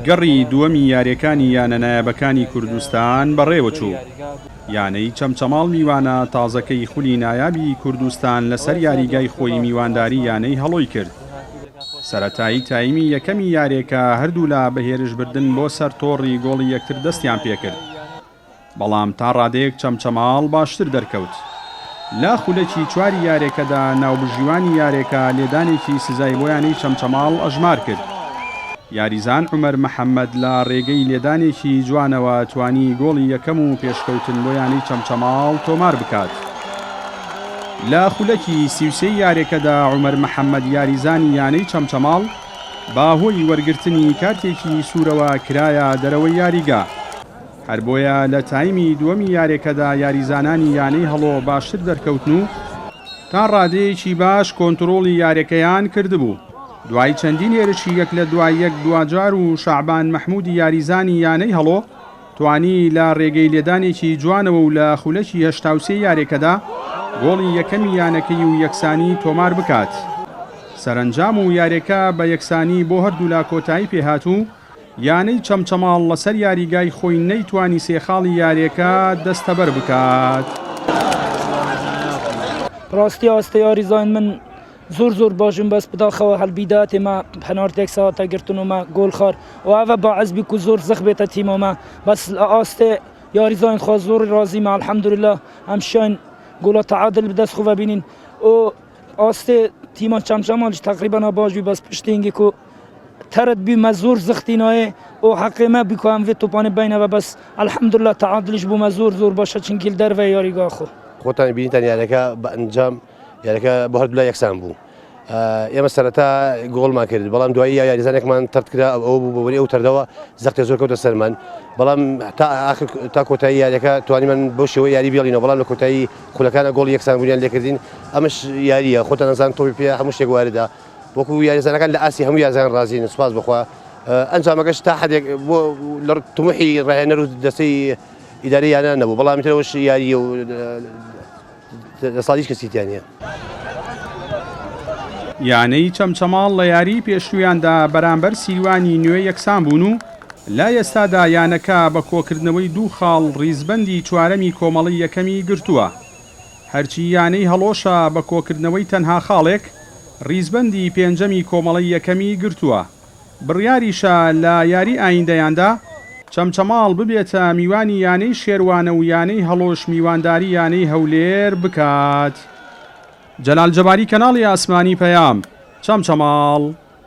گەڕی دووەمی یارییەکانی یانە نایابەکانی کوردستان بەڕێوەچوو، یانەی چەمچەماڵ میوانە تازەکەی خولی نایابی کوردستان لەسەر یاریگای خۆی میوانداری یانەی هەڵۆی کرد، سەرەتای تایمی یەکەمی یارییەکە هەردوولا بەهێرشبردن بۆ سەر تۆڕی گۆڵی یەکتر دەستیان پێکرد. بەڵام تا ڕادەیەک چەمچەماڵ باشتر دەرکەوت. لە خولەکی چواری یارێکەدا ناوبژیوانی یارێکە لێدانێکی سزای بۆ یانەی چەمچەماڵ ئەژمار کرد. یاریزان عومەر محەمەد لە ڕێگەی لێدانێکی جوانەوە توانی گۆڵی یەکەم و پێشکەوتن بۆ یانەی چەمچەماڵ تۆمار بکات. لە خولەکی سی و سێی یارێکەدا عومەر محەمەد یاریزانی یانەی چەمچەماڵ بە هۆی وەرگرتنی کارتێکی سوورەوە کرایە دەرەوەی یاریگا. هەر بۆیە لە تایمی دووەمی یاریەکەدا یاریزانانی یانەی هەڵۆ باشتر دەرکەوتن و تا ڕادەیەکی باش کۆنترۆڵی یاریەکەیان کردبوو دوای چەندین هێرشی یەک لە دوای یەک دواجار و شەعبان مەحمودی یاریزانی یانەی هەڵۆ توانی لە ڕێگەی لێدانێکی جوانەوە و لە خولەکی هەشتا و سێ یاریەکەدا گۆڵی یەکەمی یانەکەی و یەکسانی تۆمار بکات. سەرەنجام و یاریەکە بە یەکسانی بۆ هەردوولا کۆتایی پێهات و یانەی چەمچەماڵ لەسەر یاریگای خۆی نەیتوانی سێ خاڵی یاریەکە دەستەبەر بکات. راستیا ئەستە یاری زاین من زور زور باشم بس بداخەوە هەلبیداتێ مە پەنارتێک ساتە گرتن و مە گۆل خار و ئەڤە باعس بی کو زور زخ بێتە تیمۆ مە بس لە ئاستێ یاری زاین خوا زور رازی مە الحمدللە ئەم شاین گۆلە تەعادل بدەس خوە بینین و ئاستێ تیمۆ چەمچەماڵیش تەقریبەنا باش بی بس پشتینگی کو تەرت بیمە زور زختی نایێ ئۆ حەقێ مە بکو ئەم ڤێ تۆپانێ بەینەوە بەس الحمداللە تەعادلیش بومە زور زور باشە چنکیل دەرڤەی یاریگا خۆ. خۆتان بینیتان یاریەکە بە ئەنجام یاریەکە بۆ هەردولا یەکسان بوو ئێمە سەرەتا گۆڵمان کرد بەڵام دوایی یا یاریزانێکمان ترد کرا ئەو بوو بەوەری ئەو تردەوە زەختێ زۆر کەوتە سەرمان بەڵام تا ئاخر تا کۆتایی یاریەکە توانی من بۆ شێوە یاری بێڵینەوە بەڵام لە کۆتایی خولەکانە گۆڵ یەکسان بوونیان لێکردین ئەمەش یاریە خۆتان نەزان تۆی پێ هەموو شتێک واردە وەکو یاریزانەکان لە ئاستی هەموو یاریزانان رازین سوپاس بۆ خوا ئەنجامەکەش تا حەدێک بۆ لە تموحی راهێنەر و دەستەی ئیدارەی یانە نەبوو بەڵام ترەوەش یاریە و لە ساڵ هیچ کەسی تیا نییە. یانەی چەمچەماڵ لە یاریی پێشوویاندا بەرامبەر سیروانی نوێ یەکسان بوون و لە ئێستادا یانەکە بە کۆکردنەوەی دوو خاڵ ریزبەندی چوارەمی کۆمەڵەی یەکەمی گرتووە. هەرچی یانەی هەڵۆشە بە کۆکردنەوەی تەنها خاڵێک، ریزبەندی پێنجەمی کۆمەڵەی یەکەمی گرتووە، بڕیاریشە لە یاری ئایندەیاندا، چەمچەماڵ ببێتە میوانی یانەی شێروانە و یانەی هەڵۆش میوانداری یانەی هەولێر بکات. جەلال جەباری کەناڵی ئاسمانی پەیام، چەمچەماڵ.